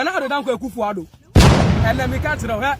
ɛna ade danko akufo ado ɛna meka kyerɛ hɛ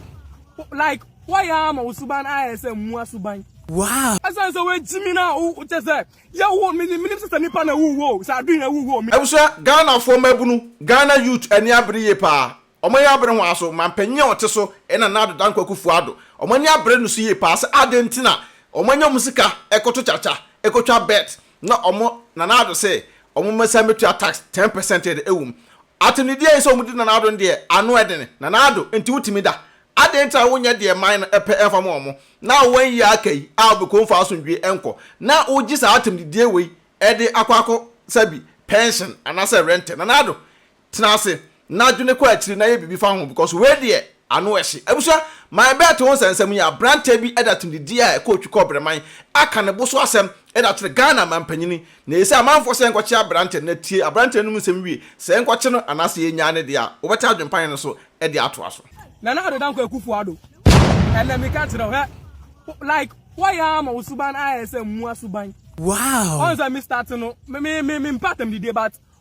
like wɔyɛ ama wo suban ayɛ sɛ mua suban wow ɛsan sɛ wɔagyimi no a wokyɛ sɛ yɛwo menim sɛ sɛ nipa na wuwo sɛ adwen na wuwo abusua ghanafoɔ mmabunu ghana youth ani abere yie paa wɔn ani abere hwan so mampanyin a ɔte so ɛna nna ade danko akufo ado wɔn ani abere no so yie paa sɛ adɛn nti na wɔn anya wɔn sika ɛkɔto kyakya ɛkɔtwa bet na wɔn nana ado sɛ wɔn mmɛsan bɛtua tax ten percent ɛde ɛwom Atenedie ne sɛ wɔdi Nana Addo no deɛ ano ɛden. Nana Addo, nti wotumi da? Adɛn nti na wonyɛ deɛ man no pɛ ɛmfa ma wɔn, na wɔn yie a aka yi a wɔbɛkɔ mu mfa asomdwoe ɛnkɔ, na wogye saa atenedie wei ɛde akɔ akɔ sa bi pension anaasɛ rente? Nana Addo, tena ase na dwene kɔ akyiri na yɛ biribi fa ho because wei deɛ Ano ɛhye. Abusua, my bet ho nsɛnsɛm yi, aberanteɛ bi de atumdidie a ɛkɔ otwi kɔ ɔbrɛman aka ne bo so asɛm de akyerɛ Ghana mampanyini. Na ese amanfoɔ sɛ yɛnkɔkye aberanteɛ no na tie aberanteɛ no mu nsɛm wie sɛ yɛnkɔkye no anaasɛ yɛnyaa no deɛ a, wobɛte adwenpan no so de atoa so. Nana Addo Dankwa Akuffo Addo, ɛnɛ meka kyerɛ wo, hwɛ, like woayɛ ara ama wo suban ayɛ sɛ mmoa suban. Wow! Ɔhu sɛ me start no, me, me, me, me mpɛ atamdidie but.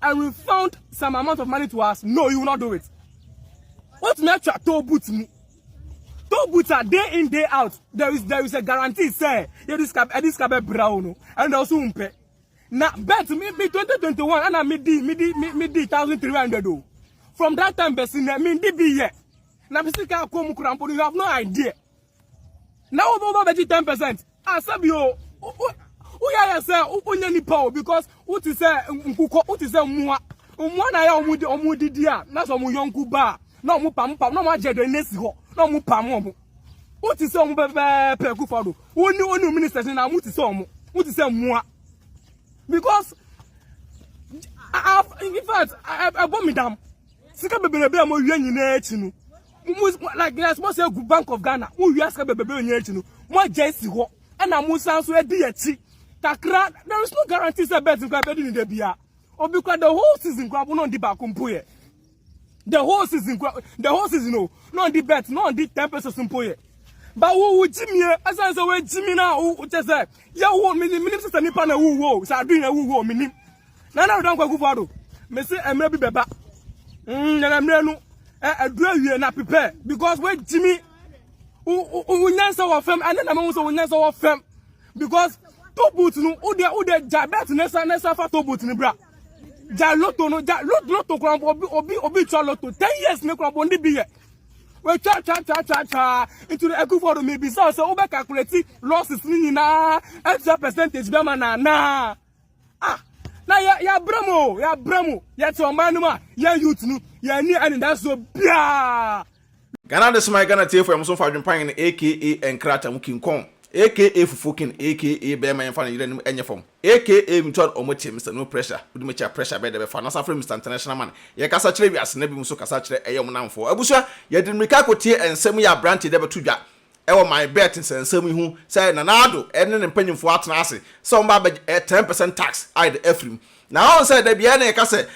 I refund some amount of money to us. No, you will not do it. What me try to boot me? To boot are day in day out. There is there is a guarantee say yeah this cab eh, this cab eh, brown and also umpe. Now bet me be 2021 and I me di me di me di 1300 do. From that time besin me di be yeah. Now be still come you have no idea. na wo bɛba bɛgye ten percent a ah, sɛbi o woyɛ ayɛ sɛ wonyɛ nipa o because wote sɛ nkokɔ wote sɛ mmoa mmoa na ayɛ ɔmo de ɔmo didi a na sɛ ɔmo yɔnko ba a na ɔmo pam pam na ɔmo agyɛ dɛ nesi hɔ na ɔmo pam ɔmo wote sɛ ɔmo pɛpɛɛpɛ kufa do woni woni ministers na ɔmo te sɛ ɔmo wote sɛ mmoa because in fact ɛbɔ mi dam sika bebrebe a mo wia nyinaa akyi no. mo like na mo sɛ gu bank of ghana mo wia sika bɛbɛbɛ onye akyi no mo agya esi hɔ ɛna mo san so edi akyi kakra there is no guarantee sɛ bet nkwa bɛdi ne da bia obi kura the whole season kura bo na ɔndi baako mpo yɛ the whole season kura the whole season o na ɔndi bet na ɔndi ten pesos mpo yɛ ba wo wo gyimie ɛsan sɛ wo gyimi na wo kyɛ sɛ yɛ wo minim minim sɛ nipa na wo wo sɛ adu yɛ wo wo minim. Nana Addo Dankwa Akufo Addo, mese mmerɛ bi bɛba. Mm, nana mmerɛ no, ɛduru eh, awie na prepare because woagyimi wonyansa wɔ fam ɛne na mahu sɛ wonyansa wɔ fam because top boot no wode wode gya bɛt ne sa ne sa fa top boot no bra gya loto no gya loto loto koraa obi obi obi twa loto ten years ne koraa bɔnde bi yɛ wɔatwa twa twa twa twa nti no akufo do mebisa sɛ wobɛ calculate losses no nyinaa atua percentage bɛma na anaa ah na yɛ yɛabrɛ mu o yɛabrɛ mu yɛte ɔman no mu a yɛn youth no yɛani anidasoɔ biaa Ghana de soma Ghana tiefo ɛmo so mfa adwempan no aka nkrata mu kinkɔn aka fufuo kin aka bɛɛma yɛmfa no yere anim ɛnyɛ fam aka me tuan ɔmo kye Mister No Pressure wode me kyea pressure bɛɛ dɛ bɛfa na san frɛ Mister International Man yɛ kasa kyerɛ wiase na bi mu nso kasa kyerɛ ɛyɛ ɔmo namfoɔ abusua yɛde mmirika akotie ɛnsɛm yi abrante dɛ bɛto dwa wɔ my bet nsɛnsɛm yi ho sɛ Nana Addo ne ne mpanyimfoɔ atena ase sɛ wɔba abɛgye ɛyɛ ten percent tax a yɛde afiri mu. Na wɔn sɛ da biara na yɛka sɛ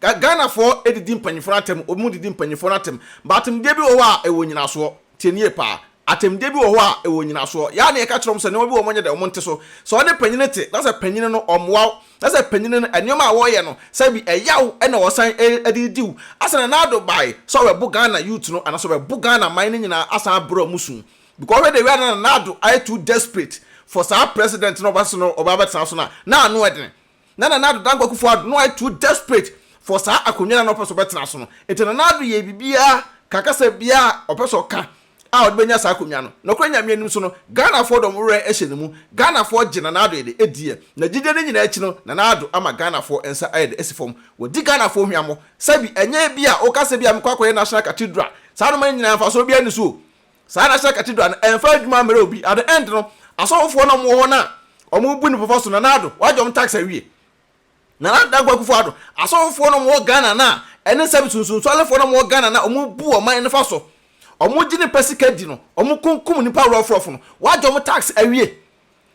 Ghanafoɔ didi mpanyimfoɔ no atɛm, wɔn didi mpanyimfoɔ no atɛm. But atemdeɛ bi wɔ hɔ a ɛwɔ nyinasoɔ. Tie nie paa. Atemdeɛ bi wɔ hɔ a ɛwɔ nyinasoɔ. Yɛ ara na yɛka kyerɛ wɔn sɛ nneɛma bi wɔ hɔ a wɔnyɛ dɛ, wɔnte so. Sɛ wɔne panyini te na sɛ panyini no ɔmmoa wo, na sɛ panyin no nneɛma a wɔyɛ no sɛ bi ɛya wo na ɔsan de di wo asɛ na Nado bae sɛ ɔbɛbo Ghana youth no anaasɛ ɔbɛbo Ghana man no nyinaa asan abrɛ ɔmo su because ɔhwɛ de wia na na Nado ayɛ too desperate for saa president no ɔba so no ɔba abɛtena so no a na ano ɛdene na Nana Ado Dankwa Akufo Ado no ayɛ too desperate for saa akonnwa no a na ɔpɛ sɛ ɔbɛtena so no nti Nana Ado yɛ biribiara ka kasa biara a ɔpɛ sɛ ɔka a ɔde bɛnya saa akonnwa no. Nokorɛ Nyame anim so no, Ghanafoɔ dɔm werɛ ahyɛ ne mu. Ghanafoɔ gye Nana Addo de adiɛ. N'agyideɛ no nyinaa akyi no, Nana Addo ama Ghanafoɔ nsa ayɛ dɛ asi fam. Wadi Ghanafoɔ hweammɔ. Sɛbi, ɛnyɛ ebi a woka sɛ bi a mekɔ akɔyɛ National Cathedral. Saa nnoɔma no nyinaa mfasoɔ biara nni so o. Saa National Cathedral no, ɛmfa adwuma mmerɛ obi. At the end no, asɔfofoɔ no a wɔwɔ hɔ no a wɔbu nnipa fa so, Nana Addo, wagye wɔn tax awie. Nana Dankwa Akufo-Addo, asɔfofoɔ no a wɔwɔ Ghana no a ɛne sɛ nsunsuansoɔlefoɔ no a wɔwɔ Ghana no a wɔbu ɔman no fa so, wɔgye ne pɛ sika di no, wɔkunkum nnipa rɔfrɔf no, wɔagye wɔn tax awie,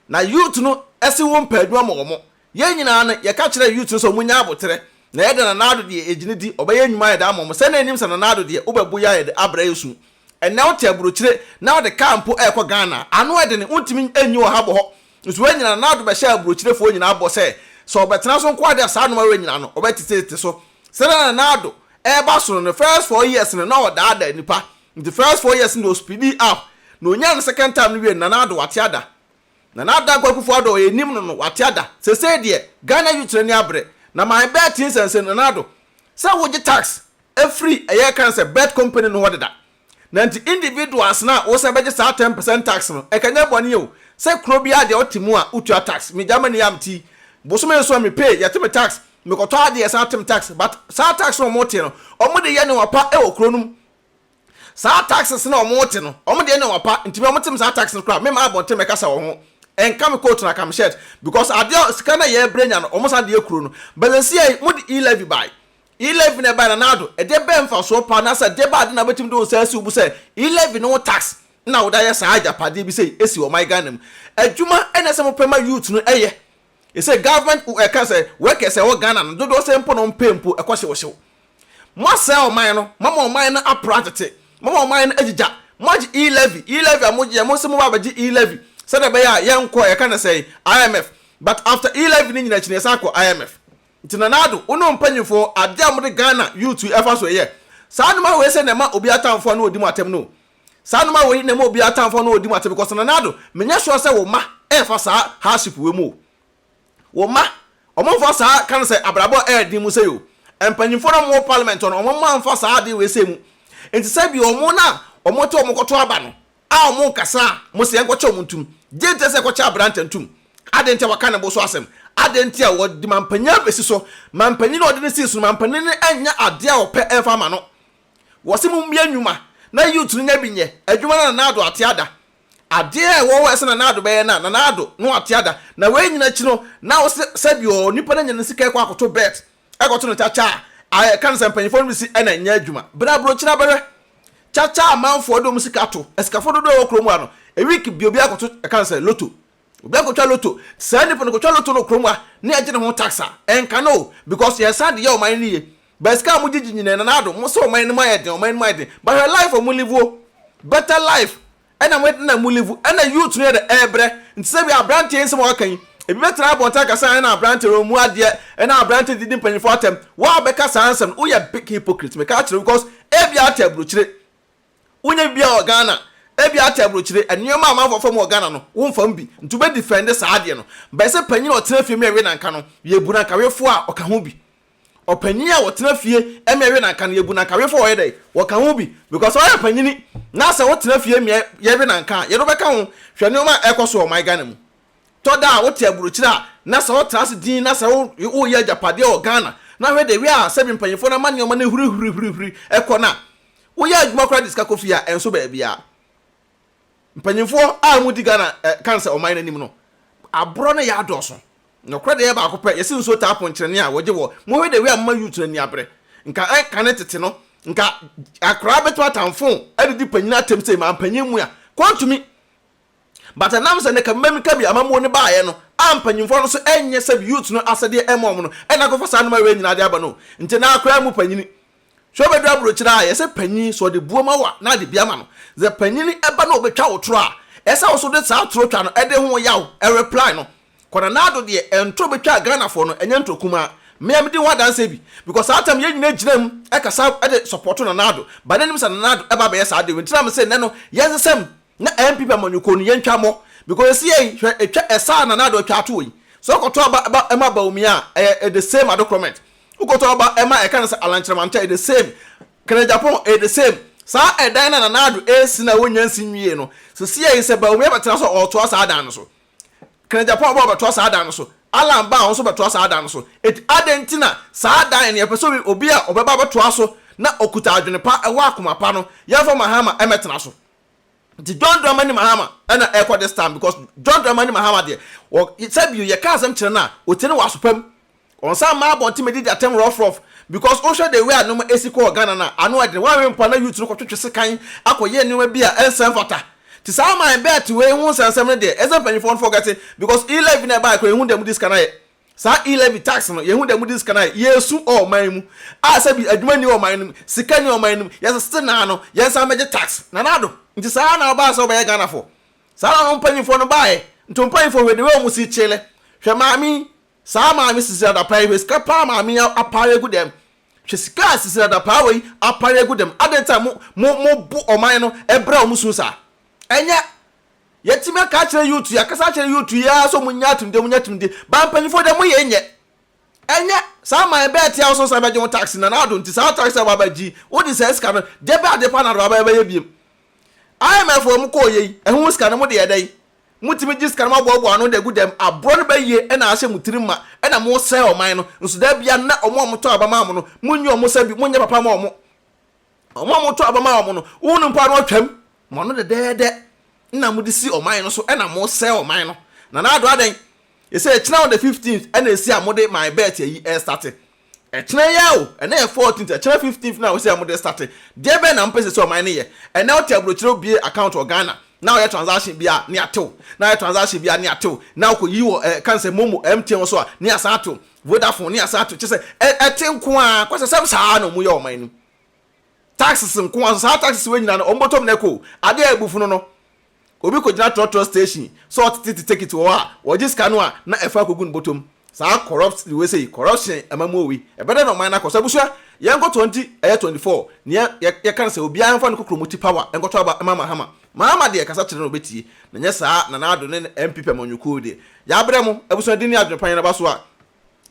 na youth no se wɔmpɛ adwuma ma wɔn. Yɛn nyinaa no, yɛka kyerɛɛ youth no sɛ wɔnyɛ aboterɛ, na yɛda Nana Addo deɛ yɛgye no di, ɔbɛyɛ nnwuma a yɛde ama wɔn. Sɛ na yɛnim sɛ Nana Addo deɛ wobɛbo yɛ a yɛde abrɛ yɛ su, Ɛnnɛ wote aburokyire na wode kaa mpo rekɔ Ghana a, ano yɛ dene, wontumi nyi wɔ ha bɔ hɔ. Nso woanyina na wode bɛhyɛ aburokyirefoɔ nyinaa bɔ sɛ, sɛ wɔbɛtena so nko ara deɛ a saa nnoɔma wei nyinaa no, wɔbɛtetetete so. Sɛdeɛ na Nana Addo reba soro no, ne first four years no, na ɔdaadaa nnipa. Nti first four years no deɛ ɔspeedii up, na ɔnyaa ne second term no wiee no, Nana Addo wate ada. Nana Dankwa Akufo-Addo a yɛnim no no, wate ada. Seesei deɛ, Ghana youths no ani abere. Na my bet te nsɛnsɛn Nana Addo sɛ wogye tax firi ɛyɛ yɛka no sɛ bet company no hɔ deda. Na nti individuals no a wosan bɛgye saa ten percent tax no, ɛka nyɛ bɔne o, sɛ kuro biara deɛ wote mu a wotua tax. Me Germany a mete yi, bosome nson me pay, yɛte me tax, mekɔtɔ adeɛ yɛsan te me tax. But saa tax no a wɔte no, wɔde yɛ nneɛma pa wɔ kuro no mu. Saa taxes no a wɔn te no, wɔn deɛ ɛna ɔpa, nti me a wɔn te me saa taxes no koraa, me maa abɔnten bɛ kasa wɔ ho, ɛnka me coat no aka me shirt, because adeɛ a sika no a yɛ brɛ nya no, wɔn san de yɛ kuro no, but sɛsi a yi, mo de e-levy bae, e-levy na ɛbae Nana Addo, ɛdeɛ bɛn mfasoɔ paa, anaasɛ ɛdeɛ bɛn ade na wobɛtumi de wo nsa asi wo bo sɛ e-levy ne wo tax na wode ayɛ saa agyapadeɛ bi sei asi ɔman Ghana mu, adwuma na ɛsɛ mo pɛ ma youth no yɛ, Ɛsɛ government ɛka sɛ workers a ɛwɔ Ghana no dodoɔ sɛn mpo na wɔn pay mpo ɛkɔ hyewhyew. Moasɛe ɔman no, moama ɔman no apra atete, moama ɔman no agyigya, moagye e-levy, e-levy a mogyeɛ, mose moba abɛgye e-levy sɛdeɛ ɛbɛyɛ a yɛnkɔ yɛka no sɛn IMF but after e-levy no nyina akyi no yɛsan kɔ IMF. Nti Nana Addo, wo ne wo mpanyinfoɔ, adeɛ a mode Ghana youth yi ɛfa so ɛyɛ saa nnoma wei sɛ na ɛma obi atamfoɔ ano ɔdi mo atɛm no o. Saa nnoɔma wei na ɛma obiara atamfoɔ no ɔdi mo atɛm because Nanado menyɛ sure sɛ wo mma ɛɛfa saa hardship wei mu o. Wo mma ɔmo nfa saa ka no sɛ abrabɔ a ɛɛden mu sei o. Mpanyinfoɔ no a ɔmo wɔ parliament hɔ no ɔmo mma nfa saa adeɛ wei sei mu. Nti sɛ bi ɔmo na ɔmo te ɔmo kɔto aba no a ɔmo nkasa a mo se yɛnkɔkyɛ ɔmo ntum. Gye nti ɛsɛ kɔkyɛ abrantɛ ntum. Adɛn nti a waka ne bo so asɛm? Adɛn nti a ɔde mampanyin abɛsi so? Mampanyin a ɔde no sii so no mampanyin no ɛnyɛ adeɛ a ɔpɛ ɛmfa mma no. Wɔse mommue nnwuma na youth no nya bi nyɛ, adwuma na Nana Addo ate ada. Adeɛ a ɛwɔ hɔ a ɛsɛ Nana Addo bɛyɛ no a, Nana Addo no ate ada. Na wei nyina akyi no, na wose sɛbi ɔɔ nipa no anya ne sika ɛkɔ akoto bet, ɛkɔto no kyakya a, a ɛka no sɛ mpanyinfoɔ no besi ɛna nyɛ adwuma. Bra Aburokyire abɛhwɛ kyakya a amanfoɔ de wɔn sika to, asikafoɔ dodoɔ a ɛwɔ kuro mu ha no, a week bi obiara kɔto ɛka no sɛ lotto. Obi akɔtwa lotto, saa nipa no kɔtwa lotto no kurom a na yɛgye ne ho tax a, ɛnka no o, because yɛn saa de yɛ ɔman no yie. But sika a mogyegye nyinaa Nana Addo, mo sɛ ɔman no mu ayɛ den, ɔman no mu ayɛ den, but hwɛ life a mo live o, better life ɛna mo ɛna mo live, ɛna youth no yɛ dɛ, ɛɛbrɛ, nti sɛ bi a abranteɛ yi nsɛm a waka yi, ebi bɛtena abɔnten aka sɛ ae na abranteɛ no ɔmmu adeɛ, ɛna abranteɛ didi mpanyinfoɔ atɛm, wo a wobɛka saa nsɛm no, woyɛ big hypocrite, meka akyerɛ wo, because ebia wote aburokyire, Wonyɛ bi biara wɔ Ghana? Ebia ate abrokyire, nneɛma a amanfoɔ fa mu wɔ Ghana no, womfa mu bi. Nti wobɛ defend saa adeɛ no. Bɛyɛ sɛ panyin a ɔtena fie mmea we nanka no, yɛbu no ankawefoɔ a ɔka ho bi. Ɔpanyin a ɔtena fie mmea we nanka no, yɛbu no ankawefoɔ a ɔyɛ dɛn? Ɔka ho bi. Because ɔyɛ panyini. Na sɛ wotena fie mmea yɛwe nanka a, yɛde wo bɛka ho. Hwɛ nneɛma a ɛrekɔ so wɔ ɔman Ghana mu. Tɔ da a wote abrokyire a, na sɛ wotra ase dinn na sɛ wo woyɛ agyapadeɛ wɔ Ghana, na hwɛ deɛ wia a sɛbi mpanyinfoɔ no ama nneɛma no ahurihurihurihuri kɔ no a, Woyɛ adwuma koraa de sika kɔ fie a, ɛnso baabiara. Mpanyimfoɔ a wɔdi Ghana eh, kan sɛ ɔman no anim no, aborɔ no yɛ adɔɔso. Nokorɛ deɛ ɛyɛ baako pɛ, yɛse nsuo taa ponkyerɛne a, wɔgye wɔ. Mohwɛ the way a moma youth no ani abere. Nka eh, kane tete no, nka akoraa bɛtumi atamfoo, adidi panyin atɛm sei, mampanyin mua, kɔ ntumi. But ɛnam sɛ na Kabima Mika bi amammuo no baeɛ no a mpanyinfoɔ no nso ɛnyɛ sɛbi youths no asɛdeɛ ɛma wɔn no ɛna akɔfa saa nnoɔma wei nyinaa de aba no nti na akora mu panyini sɛ ɔbɛduru aburokyire a yɛsɛ panyin sɛ ɔde buo ma wo a na ade bi ama no sɛ panyini ɛba na ɔbɛtwa wo toro a ɛsɛ wo nso de saa toro twa no ɛde ho yaw ɛreply no Kwanana Addo deɛ ɛntoro bɛtwaa Ghanafoɔ no ɛnyɛ ntoro kumaa me a medi ho adanseɛ bi because saa time yɛn nyinaa gyina mu ɛkasa ɛde supporto Nana Addo but na nim sɛ Nana Addo ɛba abɛyɛ saa de wei nti na mese nnɛ no yɛnsesɛm Na MP pɛ mo nyoko no yɛntwa mo because ɛsiei hwɛ ɛtwa ɛsa a Nana Addo twa toɔ yi sɛ wokɔtɔ aba ɛba ɛma Bawumia a ɛyɛ the same adekorɔmɛnt wokɔtɔ aba ɛma ɛka no sɛ Alankyerɛmantɛ the same Kanagyapoon ɛyɛ the same saa ɛdan no a Nana Addo ɛresi no a wɔnnya nsi nwiee no sɛsiei sɛ Bawumia bɛtena so a ɔretoa saa dan no so Kanagyapoon aba ɔbɛtoa saa dan no so Alan ba a ɔno nso bɛtoa saa dan no so enti adɛn nti na saa dan no yɛpɛ sɛ obi obi a ɔbɛba abɛtoa so na ɔkuta adwene pa ɛwɔ akoma pa no yɛmfa Mahama ɛmmɛtena so Nti John Dramani Mahama ɛna ɛkɔ this time because John Dramani Mahama deɛ wɔ sɛbio yɛka asɛm kyerɛ no a ɔtie no wɔ aso pam ɔnsan mma abɔnten mɛdi di atɛm rough rough because wohwɛ the way a nneɛma ɛsi kɔɔ Ghana no a ano ɛdene wanwe mpo a na youth no kɔtwetwe sekan akɔyɛ nneɛma bi a ɛnsɛ mfata nti saa man bɛɛte wei ho nsɛnsɛm no deɛ ɛsɛ mpanyinfoɔ no forgete because e-levy no ɛbaeɛ koraa ɛhu deɛ mode sika no ayɛ Saa e-levy tax no, yehu dɛ mudzi sika no ayɛ yeesu wɔ ɔman mu a sɛ bi edwuma nni ɔman no mu, sika nni ɔman no mu, yɛdze tsetse nãã no, yɛnnsan mbɛgye tax. Nanado, ntsi saa na ɔbaa sɛ wɔbɛyɛ Ghanafo. Saa na hɔn mpanyimfo no baae. Nto mpanyimfo hwɛ de wei wɔn si kyele. Hwɛ maame yi, saa maame Sisira Dapaah yi, hwɛ sika paa maame yi apare egu dɛm. Hwɛ sika a Sisira Dapaah wei apare egu dɛm. Adɛn ntsi a mo, mo, mobo ɔman no brɛ wɔn su saa? Ɛnyɛ Yɛtumi aka akyerɛ youth yi, akasa akyerɛ youth yi ara sɛ ɔmo nya atumdeɛ, ɔmo nya atumdeɛ. But mpanyinfoɔ deɛ mo yɛ nyɛ. Ɛnyɛ saa aman yi bɛɛ te a wo so san bɛgye ho tax na n'ado nti saa tax a waba gyi wo de saa sika no deɛ bɛɛ adeɛ pa na waba bɛyɛ biem. IMF foɔ ɔmo kɔɔ yɛ yi ɛho sika no mo de yɛ dɛn? Mo tumi gye sika no mo aboaboa ano de agu dɛm aborɔ no bɛyie ɛna ahyɛ mo tirim ma ɛna mo sɛe ɔman no nso da biara nnɛ ɔmo a ɔmo tɔ aba maa mo no mo nyi ɔmo sɛ bi mo nyɛ papa ma ɔmo. Wɔn a motɔ aba ma wɔn no, wɔn mpo ano atwam. Mo ano dɛdɛɛdɛ na mode si ɔman no so na mosɛe ɔman no. Nana Addo adɛn? Yɛsɛ ɛkyena on the fifteenth ɛna ɛsi a mode my bet ayi ɛrestarte. Ɛkyena yi ara o, ɛnɛ yɛ fourteenth, ɛkyena fifteenth na wosɛ mode restarte. Deɛ bɛn na mopɛ sɛ ɛsi ɔman no yɛ? Ɛnɛ wote abrokyire wobue account wɔ Ghana na woyɛ transaction bi a ne atew, na woyɛ transaction bi a ne atew, na wokɔyi wɔ eh, ka no sɛ Momo, MTN wɔ so a ne asan atew, Vodafone ne asan atew. Kyerɛ sɛ ɛte nko ara, kwasasɛm saa ara na wɔyɛ wɔ ɔman no mu. taxes nko ara, so saa taxes wei nyinaa no wɔn bɔtɔm na ɛkɔ o, ade a ɛbu funu no, obi kɔgyina trɔtrɔ station sɛ ɔtetete tekit wɔ hɔ a, wɔgye sika no a na ɛfa akɔgu ne bɔtɔm, saa corrupt wei sei, corruption amammuo wei, ɛbɛdɛn na ɔman no akɔ so, abusua yɛnkɔ 20 ɛyɛ 24 neɛ yɛ yɛka no sɛ obiara mfa ne kokromoti power nkɔtɔ aba mma Mahama, Mahama deɛ kasa kyerɛ no ɔbɛtie, na nyɛ saa Nana Addo ne ne MP pɛmɔnwokuo deɛ, yɛabrɛ mo, abusua din ne adwene pa yɛn aba so a,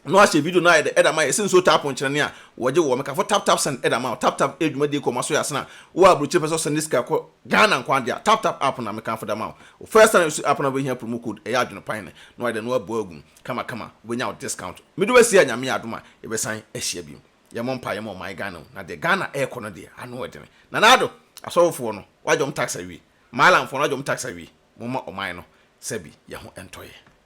na ɔahyɛ video no ayɛ dɛ da ma yɛ se nsuo tap nkyerɛne a wɔgye wɔ mekafo tap tap send da ma wo tap tap yɛ dwumadie kɔ ma so yɛ asena wo a abrokyire pɛ sɛ ɔsɛnde sika kɔ Ghana nko ade a tap tap app na mekamfo da ma wo wo first time use app no a wobɛhia promo code ɛyɛ adwene pan ne na wayɛ dɛ na wabu agu mu kama kama wobɛnya wo discount mede wasi a Nyame yɛ adom a yɛbɛsan ahyia bio yɛmmɔ mpaeɛ ma ɔman Ghana o na deɛ Ghana ɛɛkɔ no deɛ ano ɛdene Nana Addo asɔfofoɔ no wagye wɔn tax awie Maalamfoɔ no wagye wɔn tax awie momma ɔman no sɛbi yɛho ɛntɔ yɛ.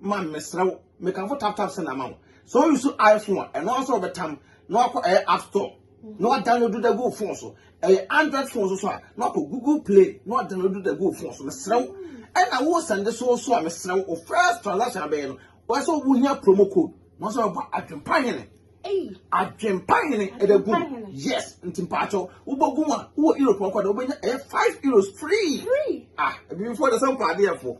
Man mesrɛ wo mekamfo tap tap send ama wo sɛ wo use iPhone a ɛno ara sɛ wɔbɛtam na wakɔ ɛyɛ app store na wadownload da gu wo phone so ɛyɛ android phone so so a na wakɔ google play na wadownload da gu wo phone so mesrɛ wo ɛna wo sɛnde so so a mesrɛ wo first transaction abɛyɛ no wɔsɛ wohia promo code na wɔsɛ wɔbɔ adwempa hene Adwempa hene ɛbɛ gu yes nti mpaatɔ wobɔ gu a wowɔ europe ɔkɔ na wobɛnya ɛyɛ five euros free ah ebibifo de sɛ nkɔ adeɛfo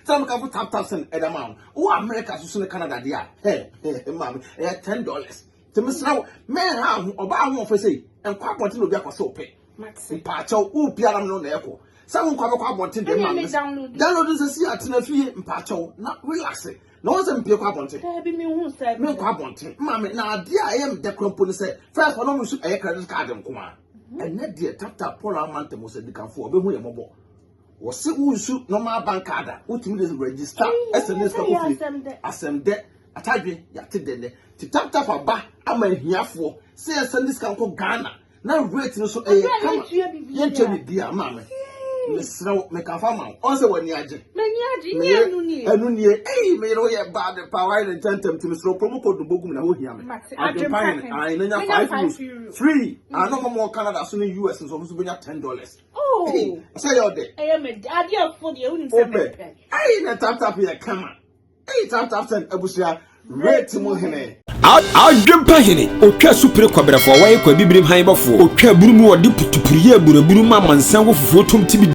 sɛ mo kafo tap tap sɛn ɛda ma wo wowɔ america soso ne canada deɛ a hɛ hɛ maame ɛyɛ ten dollars nti mesra wo mɛn ha ho ɔbaa ho ɔfɛ sɛ nkɔ abɔnten na obi akɔ sɛ ɔpɛ mpaatɔ wo biara no na ɛkɔ sɛ wo nkɔ abɛkɔ abɔnten deɛ maame download nsɛ si atena fie mpaatɔ na relax na wɔn sɛ mpie kɔ abɔnten daabi mi hu sɛ mi nkɔ abɔnten mma mi na adeɛ a ɛyɛ mi dɛ kura mpo ne sɛ fɛs wɔn mu nso ɛyɛ credit card nko a mhm. ɛnɛ deɛ tata paul amanta mu sɛ dikanfo ɔbɛhu yɛ mɔbɔ wɔsi wusu normal bank card a wotumi de register ɛsɛ ne sika kofie asɛm dɛ atadwe yate dɛ dɛ ti tap tap aba ama ahiafoɔ sɛ yɛsɛ ne sika nkɔ ghana na weight no so ɛyɛ eh, kama yɛntwa ne bia maa me mesrɛ wo mekafa ma wo ɔn sɛ w'ani agye ɛno nie ei meyere wo yɛ bad pa wae ne ntɛntɛm ti mesrɛ promo code no bɔgum na wohia me adwempane ae na nya five euros free ano ma mɔ canada so ne us nso ɔmo so bɛnya ten dollars oh. sɛ yɛ ɔdɛ wopɛ ei na taptap yɛ kama Adwempa hene, otwa asupire kwabrɛfoɔ, wɔyɛ kwa bibirim han bɔfoɔ, otwa abunu mu, wɔde putupuru yɛ aburabunu ma amansan wɔ fufuo tom ti bi.